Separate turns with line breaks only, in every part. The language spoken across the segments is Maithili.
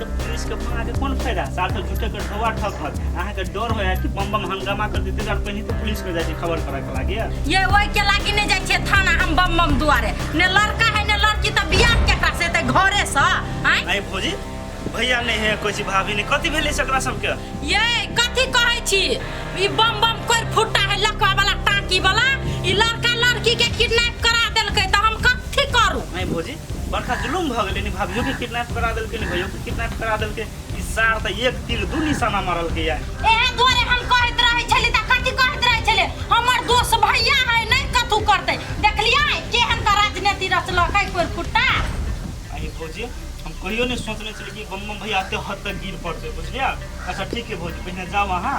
तऽ पुलिस के फोन आके कोन फायदा साल तक झूठे के ढोआ ठक हत अहाँ के डर होया कि बम बम हंगामा कर देते जान पहिने तो पुलिस के जाके खबर करा के लागे ये ओहि के लागी नहि जाइ छियै थाना हम बम बम दुआरे ने लड़का है ने लड़की तऽ बियाह केकरा से तऽ घरे से आँय आइ भौजी भैया नहीं है कोई चीज भाभी नहीं कथी भेले सकरा सबके ये कथी कहै छी ई बम बम कोर फुट्टा है लकवा वाला टाकी वाला ई लड़का लड़की के किडनैप करा देलकै तऽ हम कथी करू आइ भौजी बड़का जुलूम भऽ गेलै ने भाभियोके किडनैप करा देलकै ने भैयोके किडनैप करा देलकै ई सार तऽ एक तीर दू निशाना मारलकै या एहे दुआरे हम कहैत रहै छली तऽ कथी कहैत रहै छलै हमर दोस्त भैया है नहि कथू करतै देखलियै केहन तऽ राजनीति रचलक है कोइ खुट्टा अरे भौजी हम कहियो नहीं सोचने छलियै कि बम बम भैया एते हद तक गिर पड़ते बुझलियै अच्छा ठीक है भौजी पहिने जाओ अहाँ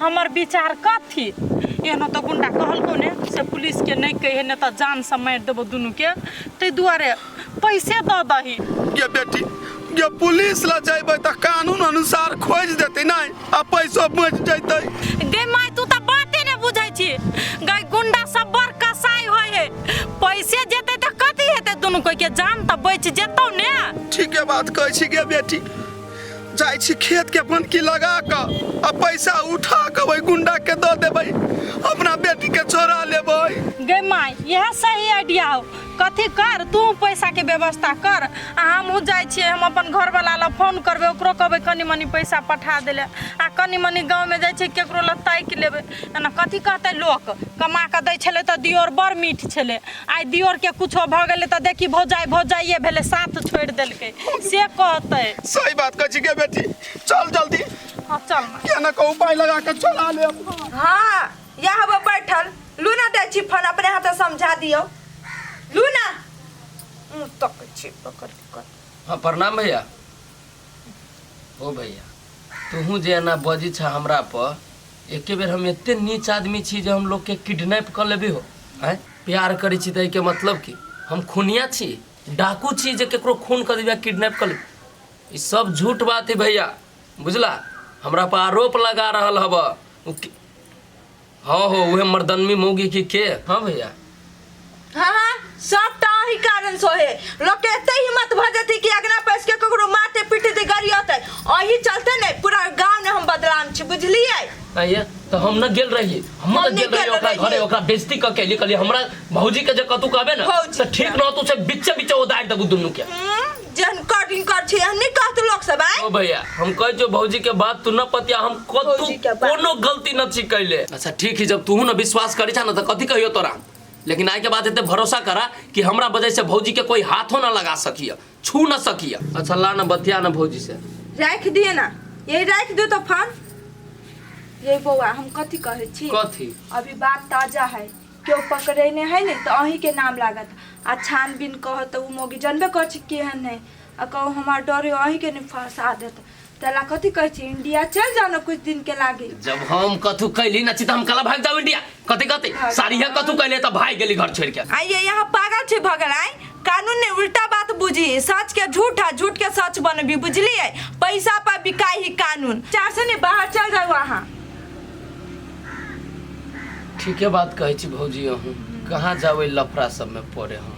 हमर विचार कथी एहनो तऽ गुंडा कहलको ने से पुलिसके नहि कहे नहि तऽ जानसँ मारि देबो दुनूके ताहि दुआरे पैसे दऽ दही गे बेटी गे पुलिस लग जेबै तऽ कानून अनुसार खोजि देतै नहि आ पैसो बचि जैतै गे माय तू तऽ बाते नहि बुझै छी गे गुंडा सब बड़ कसाई होइ है पैसे जेतै तऽ कथी हेतै दुनू कोइके जान तऽ बचि जेतौ ने ठीके बात कहै छी गे बेटी जाइ छी खेत के बनकी लगा कऽ आ पैसा उठा कऽ ओहि गुंडा के दऽ देबै अपना बेटी के चोरा लेबै गे माय यह सही आइडिया हो कथी कर तू पैसा के व्यवस्था कर आ हमहूँ जाइ छियै हम अपन घरवाला लग फोन करबै ओकरो कहबै कनी मनी पैसा पठा देले आ कनी मनी गाँवमे जाइ छियै केकरो लग ताकि लेबै एना कथी कहतै लोक कमा कऽ दै छलै तऽ दियोर बड़ मीठ छलै आइ दियोरके कुछो भऽ गेलै तऽ देखी भौजाइ भौजाइए भेलै साथ छोड़ि देलकै से कहतै सही बात कहै छी के बेटी चल जल्दी हँ चल माँ के न कहू पाइ लगा के चला ले हाँ या हबो बैठल लू ना दै छी फोन अपने हाथ समझा दियो लू ना मुँह तकै छी पकड़ के कर। हाँ प्रणाम भैया ओ भैया तोहूँ जे एना बजै छह हमरा प एके बेर हम एते नीच आदमी छी जे हम लोग के किडनैप क लेबे हो हैं प्यार करै छी त एके मतलब की हम खूनिया छी डाकू छी जे केकरो खून क देबे किडनैप क लेबे ई सब झूठ बात है भैया बुझला हमरा पर आरोप लगा रहल हब उ कि- हाँ हो उहे मर्दनमी मौगी की के हाँ भैया हाँ हाँ सब तो अही कारण सो है लोग के एते हिम्मत भ जती कि अगना पैस के ककरो मारते पीटे दे गाड़ी होते अही चलते ने पूरा गांव ने हम बदनाम छी बुझलिए आइए तो हम न गेल रहिए हम हम न न गेल रहिए गेल ओकरा रहिए। घरे ओकरा बेइज्जती क के निकलिए हमरा भौजी के जे कतू कहबे ना भौजी, से ठीक हाँ। न तू से बिच्चे बिच्चे उदार देबू दुनू के हम्म, जन कटिंग कर छी नहीं कहत लोग सब आए ओ भैया हम कह जो भौजी के बात तू न पतिया हम कतू भौजी के बात। कोनो गलती न छी कैले अच्छा ठीक है जब तू न विश्वास करी छा न तो कथी कहियो तोरा लेकिन आए के बाद एते भरोसा करा कि हमरा वजह से भौजी के कोई हाथों ना लगा सकिया छू ना सकिया अच्छा ला ना बतिया ना भौजी से राख दिए ना यही राख दो तो फोन ये बौआ हम कथी कहे छी कथी अभी बात ताजा है केओ पकड़ेने है ने तऽ अहींके नाम लागत आ छानबीन कहत तऽ ओ मौगी जानबे करै छी केहन है आ कहू हमार डर है अहींके ने फंसा देत ताहि लए कथी कहै छी इंडिया चलि जाउ ने कुछ दिन के लागी जब हम कथू कैली ना छी तऽ हम कला भाग जाऊ इंडिया कथी कथी सारी है कथू कैले तऽ भाग गेली घर छोड़ के आ ये यहाँ पागल छै भगल आइ कानून ने उल्टा बात बुझी सच के झूठ है झूठ के सच बनबी बुझलिए पैसा पर बिकाई ही कानून चार से ने बाहर चल जाओ अहाँ ठीके बात कहै छी भौजी अहूँ कहाँ जाबै लफड़ा सबमे पड़े हम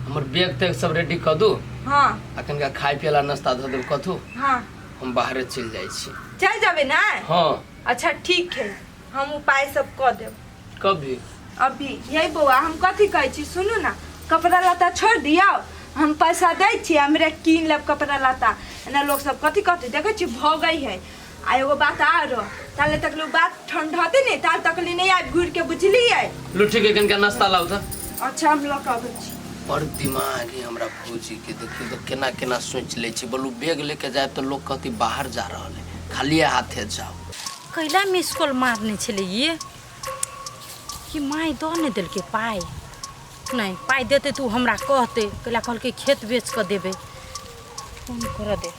हमर बैग तैग सब रेडी कऽ दू हाँ आ कनिका खाय पियला नाश्ता धऽ देब कथू हाँ हम बाहरे चलि जाइ छी चल जाबे ना हँ अच्छा ठीक है हम उपाय सब कऽ देब कभी अभी यही बौआ हम कथी कहै छी सुनू ना कपड़ा लत्ता छोड़ दियौ हम पैसा दै छी हमरा कीन लेब कपड़ा लत्ता एना लोग सब कथी कहतै देखै छी भगै है आ एगो बात आर ताले तक लोग बात ठंडते नहीं ताल तक ले नहीं आब घूर के बुझली है लुठी के कनका नाश्ता लाउ त अच्छा हम लोग अब छी बड़ दिमाग है हमरा भौजी के देखियो तो केना केना सोच ले छी बोलू बैग लेके जाए तो लोग कहती बाहर जा रहल है खाली हाथे जाओ कैला मिस कॉल मारने छले ये कि माय दऽ नहि देलकै पाइ नहि पाइ देतै तऽ ओ हमरा कहतै कैला कहलकै खेत बेच कऽ देबै फोन करऽ दे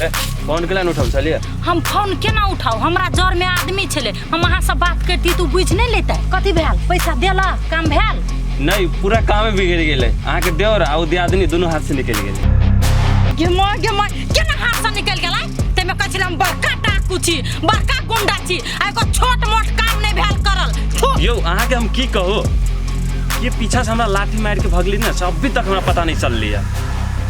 ए, फोन केला नहि उठाउ छलियै हम फोन केना उठाउ हमरा जर में आदमी छले हम अहाँ से बात करती तू बुझ नहीं लेते कथी भेल पैसा देला काम भेल नहि पूरा कामे बिगड़ि गेलै अहाँके देवर आ ओ दियादनी दुनू हाथ से निकलि गेलै गेमा गेमा केना हाथ से निकल गेला तेमे कहै छलै हम बड़का डाकू छी बड़का गुंडा छी आ एगो छोट मोट काम नहीं भेल करल थू यौ अहाँ के हम की कहो ये पीछा से हमरा लाठी मार के भगली ना से अभी तक हमरा पता नहीं चल लिया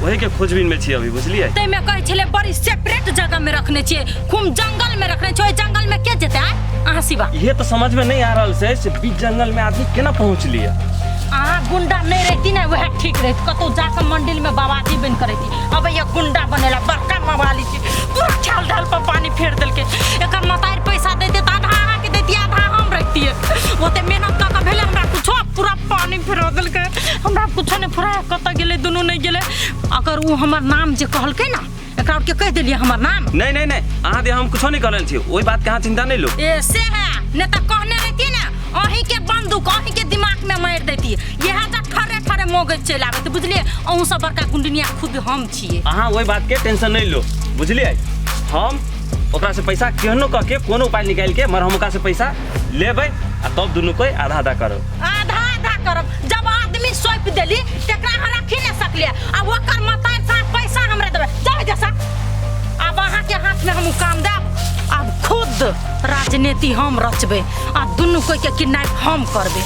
वही के खोजबीन में छी अभी बुझलिए तै में कहै छले बड़ी सेपरेट जगह में रखने छिए खूब जंगल में रखने छिए ओइ जंगल में के जेते आय? अहाँ सिवा ये तो समझ में नहीं आ रहा से से बीच जंगल में आदमी केना पहुंच लिया अहाँ गुंडा नहीं रहती ना वह ठीक रहती कतौ जाकर मंदिर में बाबाजी बन करती अब ये गुंडा बनेला बड़का मवाली पूरा ख्याल ढाल पर पानी फेर देलके एकर मतार पैसा दे दे आधा अहाँ के देती आधा हम रखतिए ओते मेहनत कऽ के भेले हमरा कुछो पूरा पानी फेरो देलके हमरा कुछो ने फुराय कत गेले दुनू नहीं गेले अगर ऊ हमर नाम जे कहलके ना एकरा के कह देलिए हमर नाम नहीं नहीं नहीं अहाँ दे हम कुछो नहीं करल छी ओहि बात के अहाँ चिंता नहीं लो ए से है ने त कहने रहती ना अही के बंदूक अही के दिमाग में मार देती यह त ठरे ठरे मोगे चल आबे बुझलिए अहूँ सब बड़का गुंडनिया खुद हम छी छिए अहाँ ओहि बात के टेंशन नहीं लो बुझलिए हम ओकरा से पैसा केहनो कह के कोनो उपाय निकाल के मर हम ओकरा से पैसा लेबै आ तब दुनू कोई आधा आधा करो आधा आधा करब जब आदमी सौंप देली तकरा हम रखी नहीं सकलिए आ ओकर मतार साथ पैसा हमरा देबै जाओ जैसा अब अहाँ के हाथ में हम उ काम देब अब खुद राजनीति हम रचबै आ दुनू कोई के किडनैप हम करबै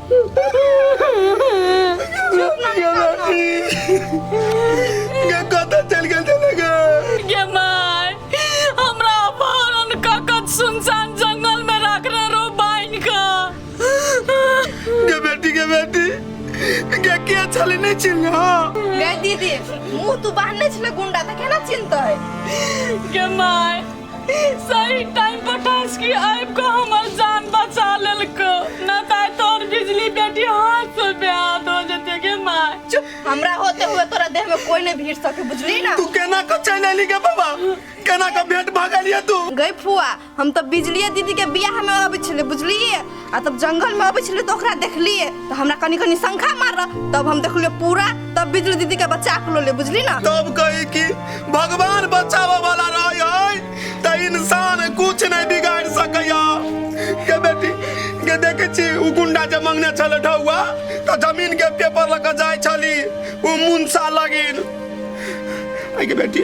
कतऽ चलि गेल छलै गे गे माय हमरा अपन उनका कत सुनसान जंगल में रखने रहो बाइन का गे बेटी गे बेटी गे के छलै नहि चिन्ह गे दीदी मुंह तू बांधने छले गुंडा तऽ केना चिन्हतै गे माय सही टाइम पर टास्क की आबि कऽ हमर जान बचा लेलको न ताय तोर बिजली बेटी हाथ से बेहाथ हो जते के माय चुप हमरा होते हुए तोरा देह में कोई नहीं भीड़ सके बुझली ना तू केना को चल अली गे बाबा केना को भेंट भगलिए तू गई फुआ हम तो बिजलिया दीदी के बियाह में अबै छले बुझलिए आ तब जंगल में अबै छलै तऽ ओकरा देखलियै तऽ हमरा कनि कनि शंखा मारल तब हम देखलियै पूरा तब बिजली दीदी के बच्चा के लोले बुझली ना तब कही कि भगवान बचावे वाला रहे है त इंसान कुछ नहीं बिगाड़ सकैया के बेटी के देखे छी उ गुंडा जे मंगने छले ढौआ त जमीन के पेपर लग जाय छली उ मुंसा लगिन आई के बेटी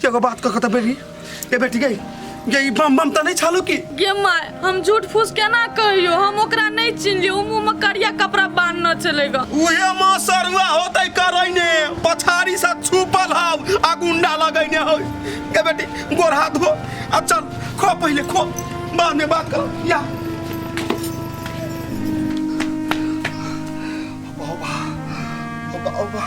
के एगो बात कह कत बेरी ए बेटी गई गई बम बम त नहीं छालू की गे माय हम झूठ फूस केना कहियो हम ओकरा नहीं चिनलियो उ मुंह में करिया कपड़ा बांधना चलेगा उहे मां सरुआ होतै करैने पछाड़ी से छुपल हव आ गुंडा लगैने हौ ए बेटी गोर हाथ धो आ चल खो पहिले खो बाद में बात करो या बाबा बाबा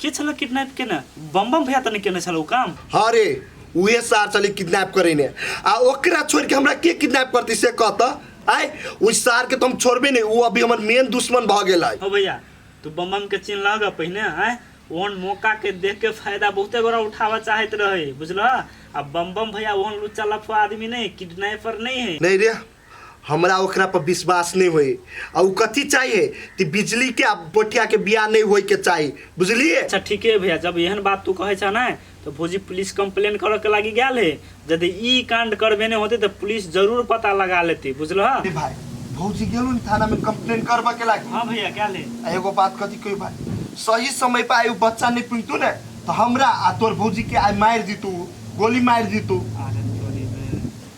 के छल किडनैप केने बम बम भैया तऽ नहि केने छल ओ काम हाँ रे उहे सार चली किडनैप करे ने आ ओकरा छोड़ के हमरा के किडनैप करती से कहता आय उस सार के तो हम छोड़बे नहीं वो अभी हमर मेन दुश्मन भ गेल है हो भैया तू बम बम के चिन्ह लग पहिने आय ओहन मौका के देख के फायदा बहुते गोरा उठावा चाहत रहे बुझल आ बम बम भैया ओहन लुच्चा लफा आदमी नहीं किडनैपर नहीं है नहीं रे हमरा ओकरा पर विश्वास नहीं होई आ उ कथी चाहिए कि बिजली के आ पोठिया के बियाह नहीं होई के चाहिए बुझलिए अच्छा ठीक है भैया जब एहन बात तू कहे छा ना तो भौजी पुलिस कंप्लेन करे के लागी गया है यदि ई कांड करबे नहीं होते तो पुलिस जरूर पता लगा लेती बुझल हा? ए भाई भौजी गेलू ने थाना में कंप्लेन करबा के लागी हाँ भैया क्या ले आ एगो बात कथी कही भाई सही समय पर आयु बच्चा नहीं पिनतू ने तो हमरा आ तोर भौजी के आय मार दीतू गोली मार दीतू आ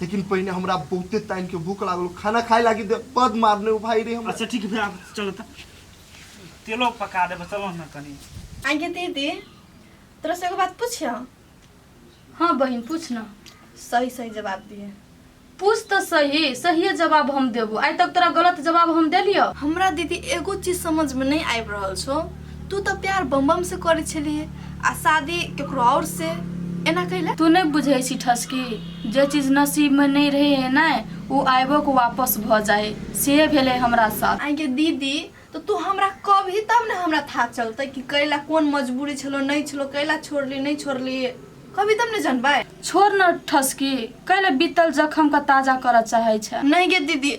लेकिन पहिने हमरा बहुते टाइम के भूख लागल खाना खाए लागी दे बद मारने हो भाई रे हम अच्छा ठीक है आप चलो तो तेलो पका देबे चलो ना कनी आगे दीदी तोरा से एगो बात पूछियो हाँ बहन पूछ ना सही सही जवाब दिए पूछ तो सही सही जवाब हम देबो आइ तक तोरा गलत जवाब हम देलियो हमरा दीदी एगो चीज समझ में नहीं आबि रहल छो तू तऽ प्यार बमबम से करै छलिए आ शादी केकरो और से एना कैला तू नहि बुझै छी ठसकी जे चीज नसीब में नहीं रहे है ना वो आबो के वापस भ जाए से भेले हमरा साथ आई के दीदी तो तू हमरा कब ही तब ने हमरा था चलते कि कैला कौन मजबूरी छलो नहीं छलो कैला छोड़ली नहीं छोड़ली कभी तब ने जानबे छोड़ न ठसकी कैले बीतल जखम का ताजा कर चाहे छे नहीं गे दीदी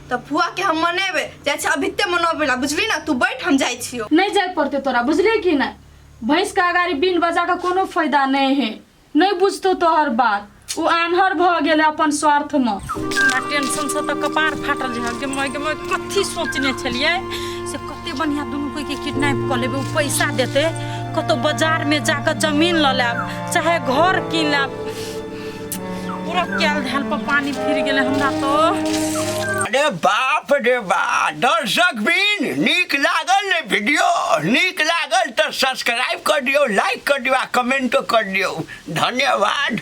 तऽ फुआ के हम मनेबे जाइ छै अभिते मनोबे ला बुझली ना तू बैठ हम जाइ छियो नहीं जाए पड़ते तोरा बुझले कि नहीं भैंस का अगाड़ी बीन बजा का कोनो फायदा नहीं है नहीं बुझतो तोहर बात उ आन्हर भ गेले अपन स्वार्थ में हमरा टेंशन से तऽ कपार फाटल छै गे माय गे माय कथी सोचने छलियै से कते बढ़िया दुनू कोई के किडनैप कऽ लेबै ओ पैसा देतै कतौ बाजार में जाकर जमीन लऽ लेब चाहे घर कीन लेब पूरा कैल धैल पर पानी फिर गेले हमरा तो अरे बाप रे बा दर्शक बिन नीक लागल ने वीडियो नीक लागल तो सब्सक्राइब कर दियो लाइक कर दियो आ कमेंटो कर दियो धन्यवाद